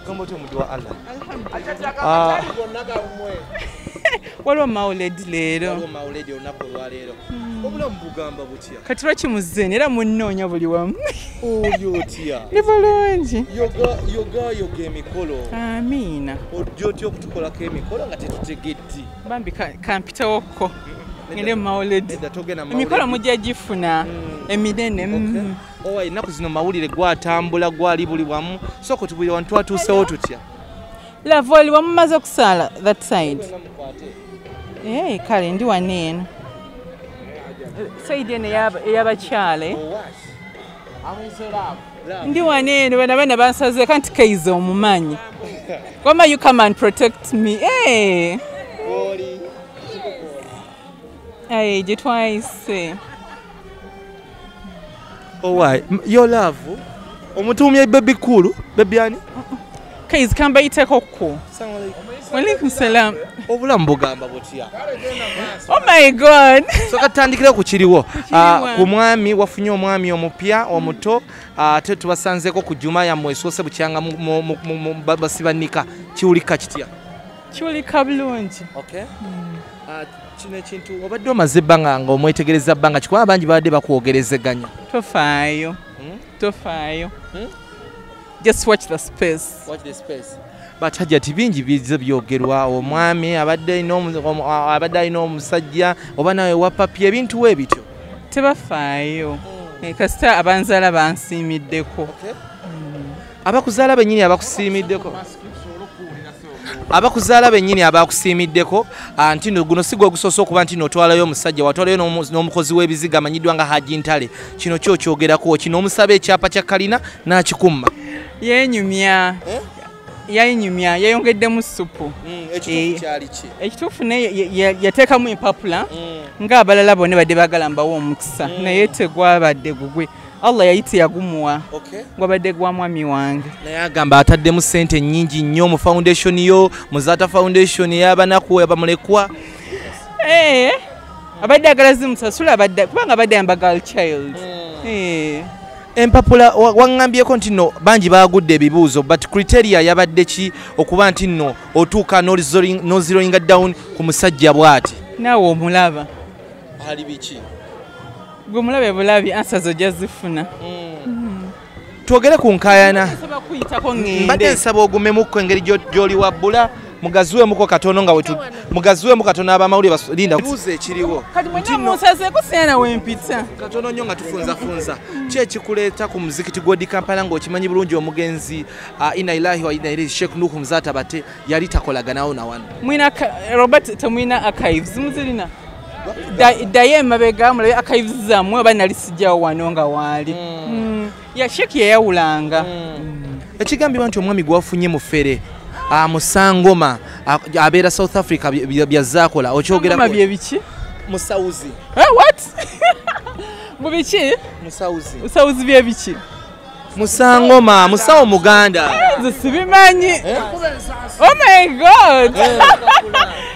Gambo to muduwa Allah. Ah. Waliwo mauledi leero. Waliwo mauledi olunaku olwaleero. Hmm. Obulamu bugamba butya? Kati lwaki muzzeeni era munnoonya buli wamu. Oyo otya? Ni bulungi. Yoga yoga emikolo. Amiina. Ojja otya okutukolako emikolo nga tetutegedde. Bambi kampitawokko. Ngende mu mauledi. Emikolo mujja gifuna hmm. eminene. Hmm. owa ennaku zino mawulire gwatambula gwali buli wamu soko tubuli wantu twatuusewo tutya lava oli wamumaze okusaala that side ee eh, kale ndi wano eno saidi eno eyabakyala eh? ndi wano eno bana bana bansaze kanti kaiza omumanyi wama you come and protect me ee eh. aye gye twayise Owai, oh, yo love omutumye baby cool, baby ani? Kaiz kamba iteko ku. Walaikum salam. Obulamu bugamba butya? Oh my god. So katandikira ku kiriwo. Ah, ku mwami wafunye omwami omupya omuto ate ah, tubasanzeko ku juma ya mwesose bukyanga basibanika kiulika kitya? Kiulika bulungi. Okay. Hmm. Ah, kino ekintu obadde omaze ebbanga nga omwetegereza bbanga kikuba abangi babadde bakwogerezeganya tofaayo hmm? tofaayo hmm? just watch the space watch the space but hajati bingi bize byogerwa omwami abadde alina abadde alina omusajja oba nawe wapapya ebintu we bityo tebafaayo hmm. eh, kasita abanzala bansiimiddeko okay. abakuzaala benyini abakusiimiddeko abakuzaala benyini abakusiimiddeko ah, nti no guno sigwa ogusoose okuba nti notwalayo omusajja watwalayo n'omukozi w'ebiziga amanyiddwa nga haji ntale kino kyo kyogerako kino omusaba ekyapa kya kalina n'akikumma yenyumya eh? yayinyumya yayongeddemu supu hmm, eh, ekituufu naye yateekamu empapula hmm. ng'abalala bone badde bagala mbawo omukisa hmm. naye tegwabadde gugwe Allah yayiti yagumuwa okay. gwabadde gwa mwami wange naye agamba ataddemu sente nyingi nnyo mu foundation yo muzata foundation eyabanaku abamulekwa hey, eh, abadde agala zimusasula kubanga abadde yamba girl child mm. hey. Eh. empapula waŋŋambyeko nti nno bangi baagudde ebibuuzo but criteria yabadde ki okuba nti nno otuuka noziroinga down ku musajja bw'ati naawe omulaba ali biki gwe mulabe bulabi ansa zo ojja zifuna mm. twogere ku nkayana mbadde nsaba ogumemukko engeri gyoli wabbula mugaziwemuko katono nga wetu mugaziwemu katono abamawulire balinda buuza ekiriwo kati mwena munsazeko sena wempita katono nnyo nga tufunzafunza ki ekikuleeta ku muzikiti gwodi kampala ng'okimanyi bulungi omugenzi uh, ina ilahi wa ina ilahi sheikh nuhu muzata bate yali takolaganawo na wano mwina robert temwina archives muzirina ddayo emabega mulabe akayivuzi zammwe oba nali sijjawo wano nga waali hmm. Hmm. yasheki yeyawulanga hmm. ekigambibwa nti omwami gwafunye mufere amusangoma ah, ah, abeera south africa byazaakola okyogera byebiki musawuzi eh, what mubiki musawuzi byebiki musangoma musawo muganda nze sibimanyi eh? oh my god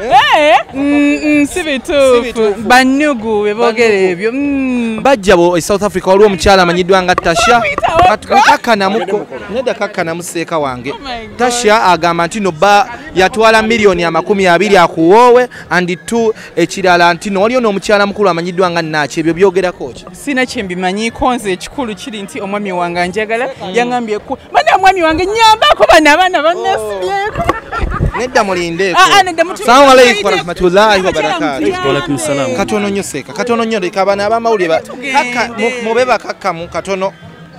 eh? mm, mm, si bituufu banyugu bebogera ebyo mm. bajja bo e south africa waliwo omukyala amanyiddwa nga tasha neda kakkanamu seeka wange oh tasha agamba nti no ba yatwala miliyoni amakumi abiri akuwoowe and t ekirala ntino waliyo n'omukyala mukulu amanyiddwa nga naaki ebyo byogerako ki sina kyembimanyiiko nze ekikulu kiri nti omwami wange anjagala mm. yaŋambyeku bana omwami wange nyambako bana abaana banasibyeko nedda mulindeeko ah, ah, salamu aleikum warahmatullahi wabarakatu katono nyo seeka katono nyo leka abana abamawulire mube bakakkamu katono